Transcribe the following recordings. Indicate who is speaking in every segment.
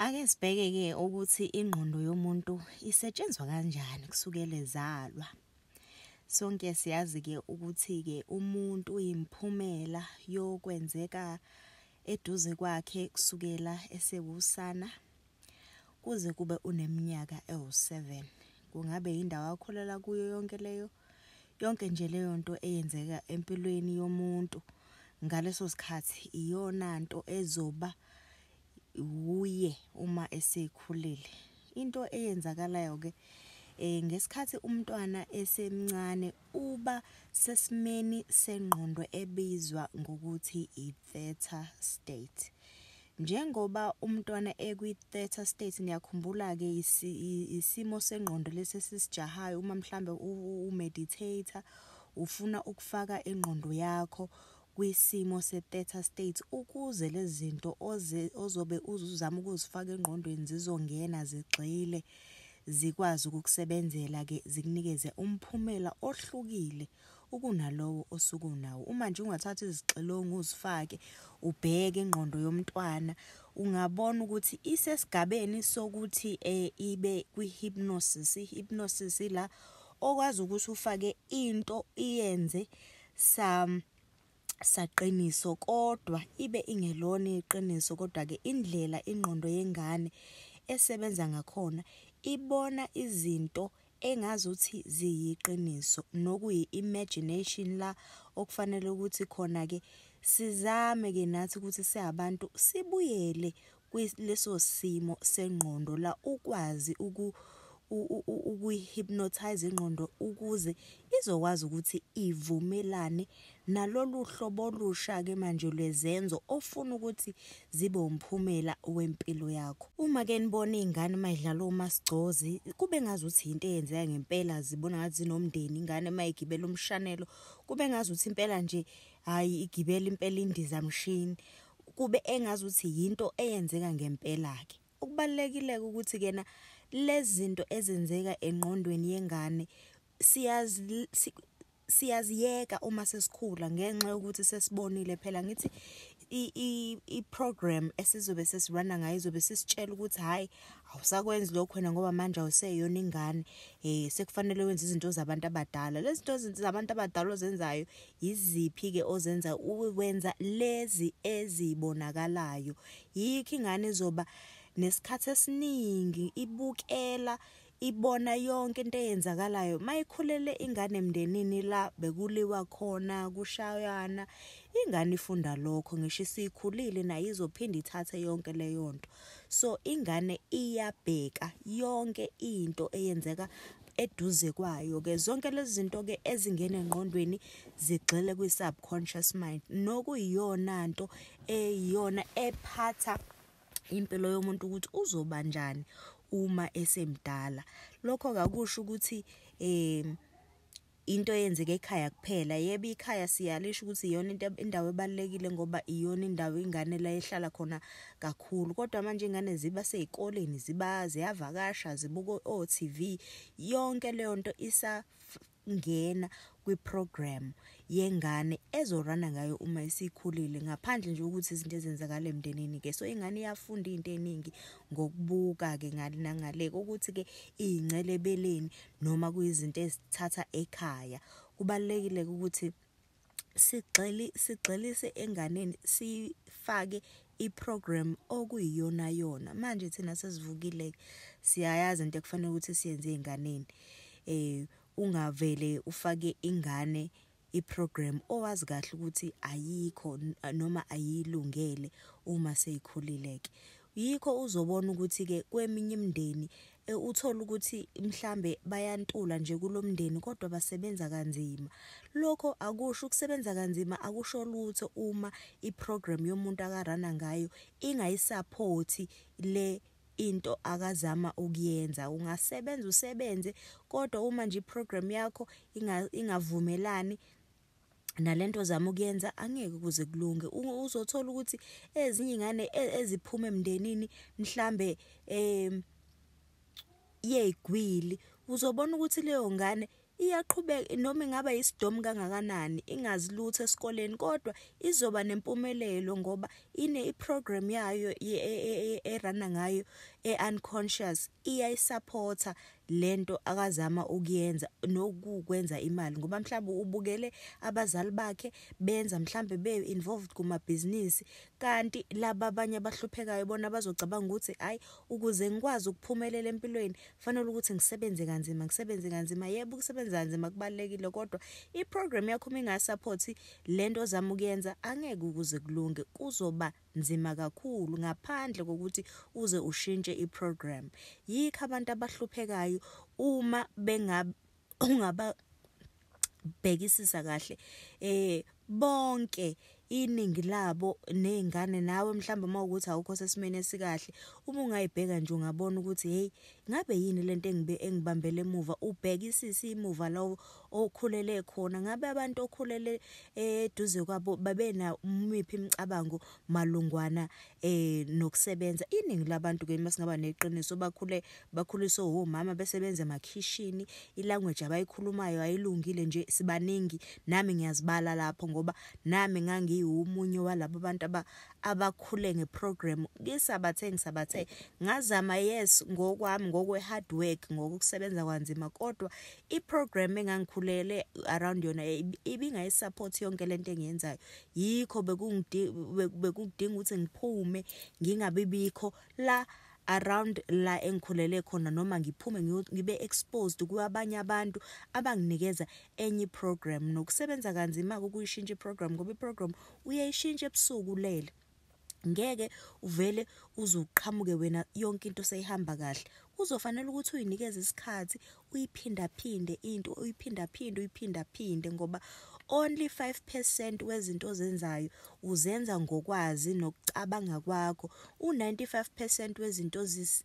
Speaker 1: Ake sibheke ke ukuthi ingqondo yomuntu isetshenzwa kanjani kusukela ezalwa. Sonke siyazi ke ukuthi ke umuntu uyimphumela yokwenzeka eduze kwakhe kusukela esewusana kuze kube uneminyaka ewu-7. Kungabe yindawo akholelwa kuyo yonke leyo yonke nje leyo nto eyenzeka empilweni yomuntu ngaleso sikhathi iyona nto ezoba wuye uma esekhulile into eyenzakalayo ke eh ngesikhathi umntwana esemncane uba sesimeni sengqondo ebizwa ngokuthi i-theta state njengoba umntwana ekwi-theta state niyakhumbula-ke isimo sengqondo lesi esisijahayo uma mhlambe umeditator ufuna ukufaka ingqondo yakho kwisimo se-theta state ukuze lezi zinto ozobe uzuzama ukuzifaka engqondweni zizongena zigxile zikwazi ukukusebenzela-ke zikunikeze umphumela ohlukile ukunalowo osuke unawo uma nje ungathatha izixilongo uzifake ubheke ingqondo yomntwana ungabona ukuthi isesigabeni sokuthi eh ibe kwi-hypnosis i-hypnosis la okwazi ukuthi ufake into iyenze Sam saqiniso kodwa ibe ingelona iqiniso kodwa ke indlela ingqondo yengane esebenza ngakhona ibona izinto engazuthi ziyiqiniso nokuyi imagination la okufanele ukuthi khona ke sizame ke nathi ukuthi siyabantu sibuyele kuleso simo sengqondo la ukwazi uku ukuyi-hypnotize ingqondo ukuze izokwazi ukuthi ivumelane nalolu hlobo olusha-ke manje lwezenzo ofuna ukuthi zibe umphumela wempilo yakho. Uma-ke nibona iy'ngane uma idlala omasigcozi kube ngazuthi yinto eyenzeka ngempela zibona ngathi zinomndeni ingane uma igibela umshanelo kube ngazuthi impela nje hayi igibela impela indiza mshini kube engazi ukuthi yinto eyenzeka ngempela ke okubalekile ukuthi kena lezinto ezenzeka engqondweni yengane siyazi siyaziyeka uma sesikhula ngenxa yokuthi sesibonile phela ngithi i program esizobe sesirana ngayo izobe sisitshela ukuthi hayi awusakwenzi lokho wena ngoba manje awuseyona ingane eh sekufanele wenze izinto zabantu abadala lezi zinto zabantu abadala ozenzayo Yiziphi-ke ozenza ukwenza lezi ezibonakalayo? Yikho ingane izoba nesikhathi esiningi ibukela ibona yonke into eyenzakalayo mayikhulele ingane emndenini la bekuliwa khona kushayana ingane ifunda lokho ngisho isikhulile nayo izophinde ithathe yonke leyo nto so ingane iyabheka yonke into eyenzeka eduze kwayo ke zonke lezi zinto ke ezingena engqondweni zigxile kwi subconscious mind nokuyiyona nto eyiyona ephatha impilo yomuntu ukuthi uzoba njani uma esemdala lokho kakusho ukuthi eh into eyenzeke ekhaya kuphela yebo ikhaya siyalisho ukuthi iyona into indawo ebalekile ngoba iyona indawo ingane la ehlala khona kakhulu kodwa manje ingane ziba sezikoleni ziba ziyavakasha zibuka o TV yonke leyo nto isa ngena kwiprogram yengane ezorana ngayo uma isikhulile ngaphandle nje ukuthi izinto ezenzakala emndenini ke so ingane iyafunda into eningi ngokubuka ke ngale nangale ukuthi ke ingcele beleni noma kuyizinto ezithatha ekhaya kubalekile ukuthi sigxili sigxilise enganeni sifake iprogram okuyiyona yona manje thina sesivukile siyayazi into ekufanele ukuthi siyenze enganeni eh ungavele ufake ingane iprogram owazi kahle ukuthi ayikho noma ayilungele uma seyikhulile ke yikho uzobona ukuthi ke kweminye imindeni e, uthola ukuthi mhlambe bayantula nje kulomndeni kodwa basebenza kanzima lokho akusho ukusebenza kanzima akusho lutho uma iprogram yomuntu akarana ngayo ingayisupport le into akazama ukuyenza ungasebenza usebenze kodwa uma nje iprogram yakho ingavumelani nalento zama ukuyenza angeke kuze kulunge uzothola ukuthi ezinye ingane e, eziphuma emndenini mhlambe em yegwili uzobona ukuthi leyo ngane Iyaqhubeka noma ingaba yisidomu kangakanani ingazi lutho esikoleni kodwa izoba nempumelelo ngoba ine iprogram yayo e, e, e, erana ngayo eunconscious iyayisupporta lento akazama ukuyenza nokukwenza imali ngoba mhlawumbe ubukele abazali bakhe benza mhlawumbe be involved kuma business kanti laba abanye abahluphekayo bona bazocabanga ukuthi hayi ukuze ngikwazi ukuphumelela empilweni fanele ukuthi ngisebenze kanzima ngisebenze kanzima yebo ukusebenza kanzima kubalekile kodwa iprogram yakho uma ingasupport lento ozama ukuyenza angeke ukuze kulunge kuzoba nzima kakhulu ngaphandle kokuthi uze ushintshe iprogram yikho abantu abahluphekayo uma benga ungaba bhekisisa kahle eh bonke iningi labo nezingane nawe mhlawumbe uma ukuthi awukho sesimene esikahle uma ungayibheka nje ungabona ukuthi hey ngabe yini lento engibe engibambele emuva ubhekisisa imuva lawo okhulele khona ngabe abantu okhulele eh, eduze kwabo babe na umiphi imicabango malungwana eh nokusebenza iningi labantu ke masingaba neqiniso bakhule bakhuliswe omama besebenza emakhishini ilanguage abayikhulumayo ayilungile nje sibaningi nami ngiyazibala lapho ngoba nami ngangiwumunye walabo bantu abakhule ngeprogram ngisabathe ngisabathe ngazama yes ngokwami ngokwe hard work ngokusebenza kwanzima kodwa iprogram engangikhulele around yona ibingayisupport yonke lento engiyenzayo yikho bekudinga ukuthi ngiphume ngingabi bikho la around la engikhulele khona noma ngiphume ngibe exposed kwabanye abantu abanginikeza enye iprogram nokusebenza kanzima ukuyishintsha iprogram ngoba iprogram uyayishintsha ebusuku lele ngeke uvele uzuqhamuke wena yonke into seyihamba kahle kuzofanele ukuthi uyinikeze isikhathi uyiphindaphinde into uyiphindaphinde uyiphindaphinde ngoba only 5% wezinto ozenzayo uzenza ngokwazi nokucabanga kwakho u95% wezinto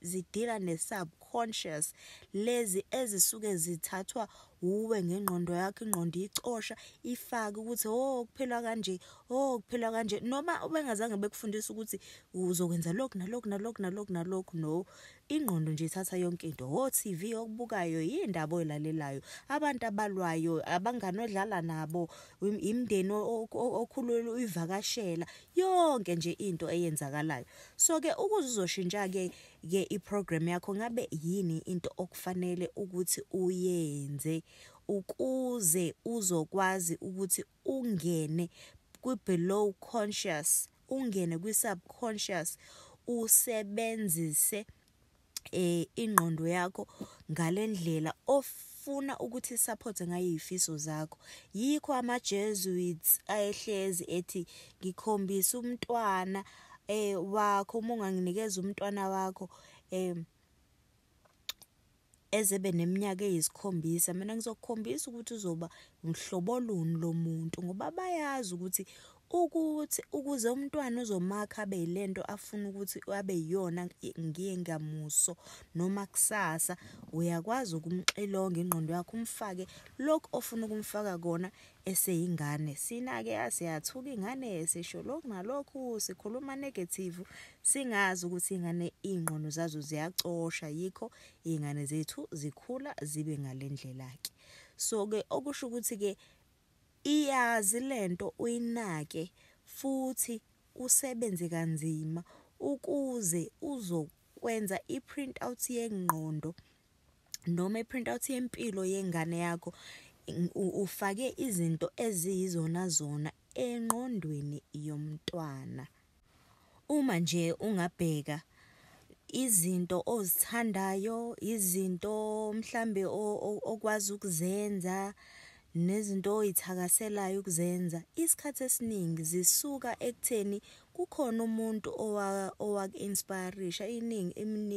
Speaker 1: zidila nesubconscious lezi ezisuke zithathwa uwe ngengqondo yakho ingqondo icosha ifake ukuthi oh kuphelwa kanje oh kuphelwa kanje noma ubengazange bekufundisa ukuthi uzokwenza lokhu nalokhu nalokhu nalokhu nalokhu no ingqondo nje ithatha yonke into ho TV okubukayo yindaba oyilalelayo abantu abalwayo abangani odlala nabo imndeni okhulula uyivakashela yonke nje into eyenzakalayo so ke ukuze uzoshintsha ke ke iprogram yakho ngabe yini into okufanele ukuthi uyenze ukuze uzokwazi ukuthi ungene kwi below conscious ungene kwi subconscious usebenzise eh ingqondo yakho ngalendlela of ufuna ukuthi support ngayo izifiso zakho yikho ama Jesuits ayehlezi ethi ngikhombisa umntwana eh wakho uma unganginikeza umntwana wakho eh ezebe neminyaka eyisikhombisa mina ngizokukhombisa ukuthi uzoba umhlobo luni lo muntu ngoba bayazi ukuthi ukuthi ukuze umntwana uzomakha abe yilento afuna ukuthi abe yiyona ngiye ngamuso noma kusasa uyakwazi ukumxilonga ingqondo yakho umfake lokho ofuna ukumfaka kona eseyingane sinake yaze yathuka ingane sisho lokhu nalokhu sikhuluma negative singazi ukuthi ingane ingqondo zazo ziyacosha yikho ingane zethu zikhula zibe ngalendlela ke so ke okusho ukuthi ke iyazi lento uyinake futhi usebenze kanzima ukuze uzokwenza iprint out yengqondo noma i-print out yempilo yengane yakho ufake izinto eziyizona zona enqondweni yomntwana uma nje ungabheka izinto ozithandayo izinto mhlambe okwazi ukuzenza nezinto oyithakaselayo ukuzenza isikhathi esiningi zisuka ekutheni kukhona umuntu owaku-inspirisha iningi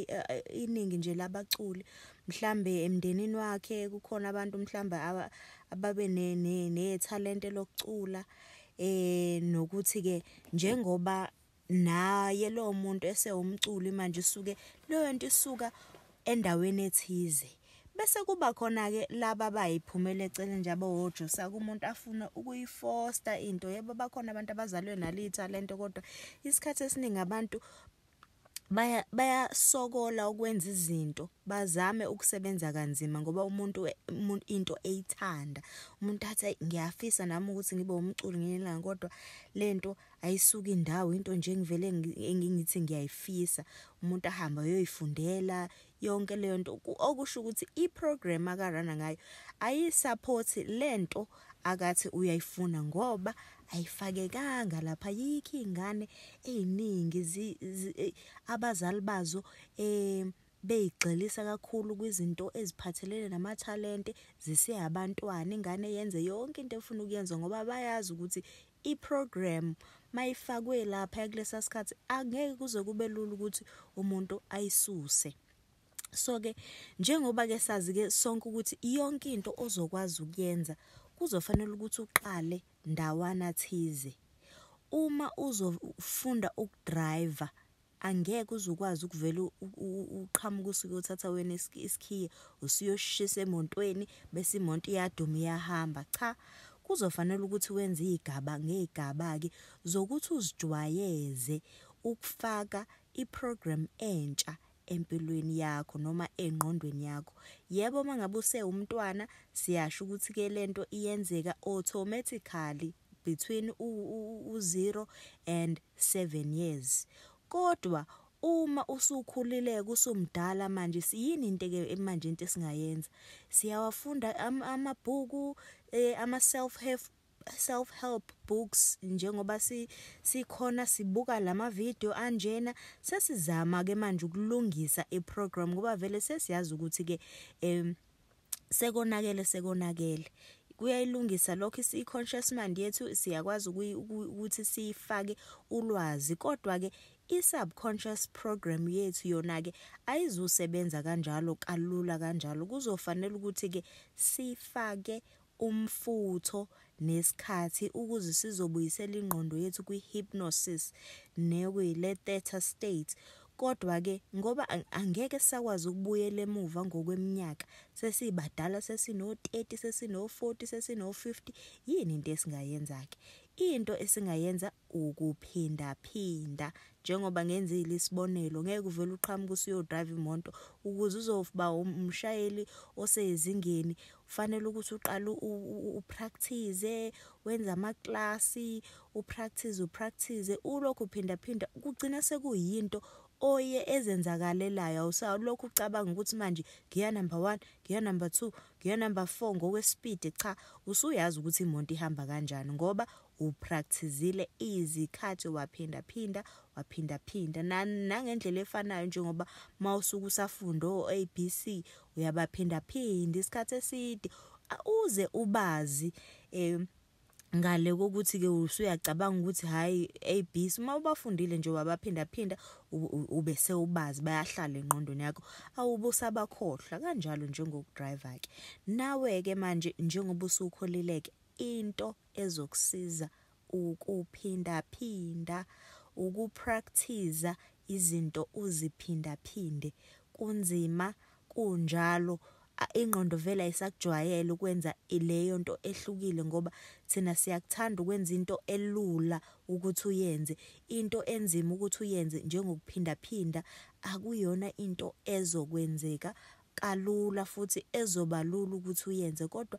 Speaker 1: eh, eh, iningi nje labaculi mhlambe emndenini wakhe kukhona abantu mhlambe ababe nethalente lokucula eh nokuthi ke njengoba naye lowo muntu esewumculi manje usuke leyo nto isuka endaweni ethize bese kuba khona ke laba bayiphumela eceleni nje abawojusa kumuntu afuna ukuyifosta into yebo bakhona abantu abazalwe nalitha lento kodwa isikhathi esiningi abantu baya bayasokola ukwenza izinto bazame ukusebenza kanzima ngoba umuntu into eyithanda umuntu athi ngiyafisa nami ukuthi ngibe umculi ngelinga kodwa lento ayisuke indawo into nje engivele engingithi ngiyayifisa umuntu ahamba uyoyifundela yonke leyo nto okusho ukuthi iprogram akarana ngayo ayisupport lento akathi uyayifuna ngoba ayifakekanga lapha yikho ingane eziningi abazali bazo eh beyigxilisa kakhulu kwizinto eziphathelene namathalente ziseyabantwana ingane yenze yonke into efuna ukuyenza ngoba bayazi ukuthi iprogram mayifakwe lapha kulesa sikhathi angeke kuze kube lula ukuthi umuntu ayisuse so ke njengoba ke sazi ke sonke ukuthi yonke into ozokwazi ukuyenza kuzofanele ukuthi uqale ndawana thize uma uzofunda ukudriver angeke uze ukwazi ukuvela uqhamuka usuke uthatha wena isikhiye usuyoshisa emontweni bese imonto iyaduma iyahamba cha kuzofanele ukuthi wenze igaba ngegaba ke zokuthi uzijwayeze ukufaka iprogram entsha empilweni yakho noma engqondweni yakho yebo mangabe usewumntwana siyasho ukuthi ke lento iyenzeka automatically between u 0 and 7 years kodwa uma usukhulileke usumdala manje siyini into ke manje into esingayenza siyawafunda amabhuku eh, ama self help self help books njengoba si sikhona sibuka lama video anjena sesizama ke manje ukulungisa i program ngoba vele sesiyazi ukuthi ke em sekonakele sekonakele kuyayilungisa lokho i-conscious mind yethu siyakwazi ukuthi siyifake ulwazi kodwa ke i-subconscious program yethu yona ke ayizusebenza kanjalo kalula kanjalo kuzofanele ukuthi ke sifake umfutho nesikhathi ukuze sizobuyisela ingqondo yethu kwi-hypnosis nekwi-le theta state. Kodwa-ke ngoba angeke sisakwazi ukubuyela emuva ngokweminyaka, sesibadala sesino-30, sesino-40, sesino-50, yini into esingayenza-ke? Into esingayenza ukuphindaphinda njengoba ngenzile isibonelo ngeke uvele uqhamuke usuyodrayiva imoto ukuze uzoba umshayeli osezingeni fanele ukuthi uqale upractice wenze amaklasi upractice upractice ulokhu phinda phinda kugcina sekuyinto oye ezenzakalelayo awusalokhu ucabanga ukuthi manje ngiya number 1 ngiya number 2 ngiya number 4 ngokwespeed cha usuyazi ukuthi imonto ihamba kanjani ngoba Uwuprakthizile izikhathi waphinda phinda waphinda phinda na, nangendlela efanayo njengoba mawusuke usafunda o-ABC uyabaphinda phinda isikhathi eside uze ubazi eh ngale kokuthi ke usuyacabanga ukuthi hayi ABC uma ubafundile nje wabaphinda phinda ube sewubazi bayahlala enqondweni yakho awubusabakhohlwa kanjalo njengokudriver ke nawe ke manje njengoba usukholileke into ezokusiza ukuphindaphinda, ukuprakthiza izinto uziphindaphinde. Kunzima, kunjalo, ingqondo vele ayisakujwayele ukwenza leyo nto ehlukile ngoba thina siyakuthanda ukwenza into elula ukuthi uyenze. Into enzima ukuthi uyenze njengokuphindaphinda akuyona into ezokwenzeka kalula futhi ezoba lula ukuthi uyenze kodwa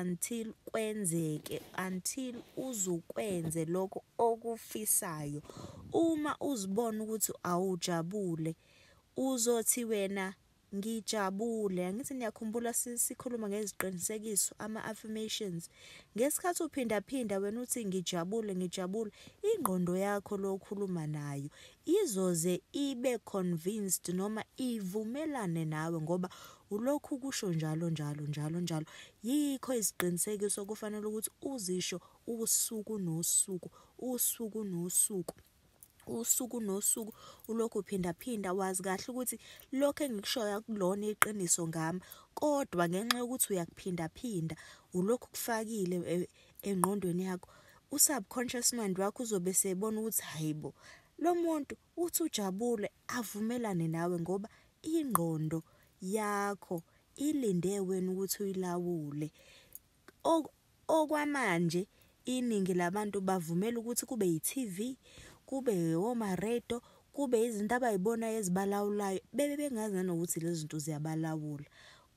Speaker 1: until kwenzeke until uzukwenze lokho okufisayo uma uzibona ukuthi awujabule uzothi wena ngijabule angithi niyakhumbula sikhuluma ngeziqinisekiso ama-affirmations ngesikhathi uphindaphinda wena uthi ngijabule ngijabule ingqondo yakho lokhuluma nayo izoze ibe convinced noma ivumelane nawe ngoba Ulokhu ukusho njalo njalo njalo njalo. Yikho iziqinisekiso kufanele ukuthi uzisho usuku nosuku, usuku nosuku. usuku nosuku ulokhu uphinda phinda wazi kahle ukuthi lokho engikushoyo akulona iqiniso ngami kodwa ngenxa yokuthi uyakuphinda phinda ulokhu kufakile e, engqondweni yakho usubconscious mind wakho uzobe sebona ukuthi hayibo lo muntu Uthi ujabule avumelane nawe ngoba ingqondo yakho ilinde wena ukuthi uyilawule. Okwamanje iningi labantu bavumela ukuthi kube yi-TV, kube womaredo, kube izinto abay'bonayo ezibalawulayo bebe bengazi nanokuthi lezi zinto ziyabalawula.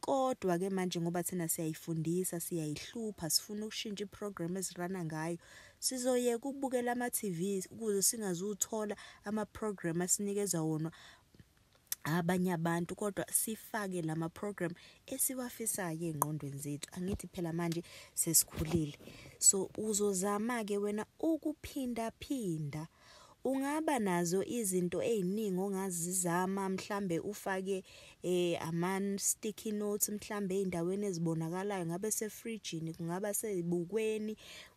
Speaker 1: Kodwa ke manje ngoba thina siyayifundisa, siyayihlupha, sifuna ukushintsha iprogram ezirana ngayo. Sizoyeka ukubukela ama-TV ukuze singazuthola ama-program asinikeza wona abanye abantu kodwa sifake lama program esiwafisayo engqondweni zethu angithi phela manje sesikhulile so uzozama ke wena ukuphinda phinda Ungaba nazo izinto eziningi ongazizama mhlambe ufake eh aman sticky notes mhlambe ezindaweni ezibonakalayo ngabe sefridgini kungaba sezibukweni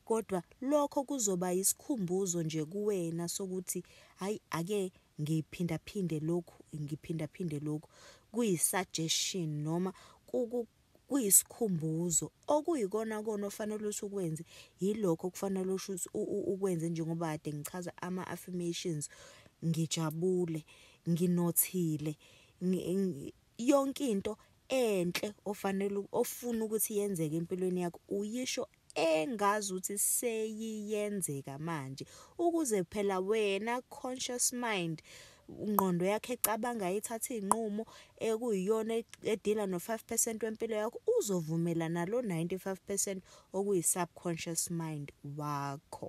Speaker 1: kodwa lokho kuzoba isikhumbuzo nje kuwena sokuthi hayi ake ngiphinda phinde lokhu ngiphinda phinde lokhu kuyi suggestion noma kuyisikhumbuzo okuyikona kona ofanele usukwenze yilokho kufanele ushuthi ukwenze njengoba kade ngichaza ama affirmations ngijabule nginothile yonke into enhle ofanele ofuna ukuthi yenzeke empilweni yakho uyisho engazuthi seyiyenzeka manje ukuze phela wena conscious mind ngqondo yakhe ecabanga ithatha izinqumo ekuyiyona edila no 5% wempilo yakho uzovumela nalo 95% okuyi subconscious mind wakho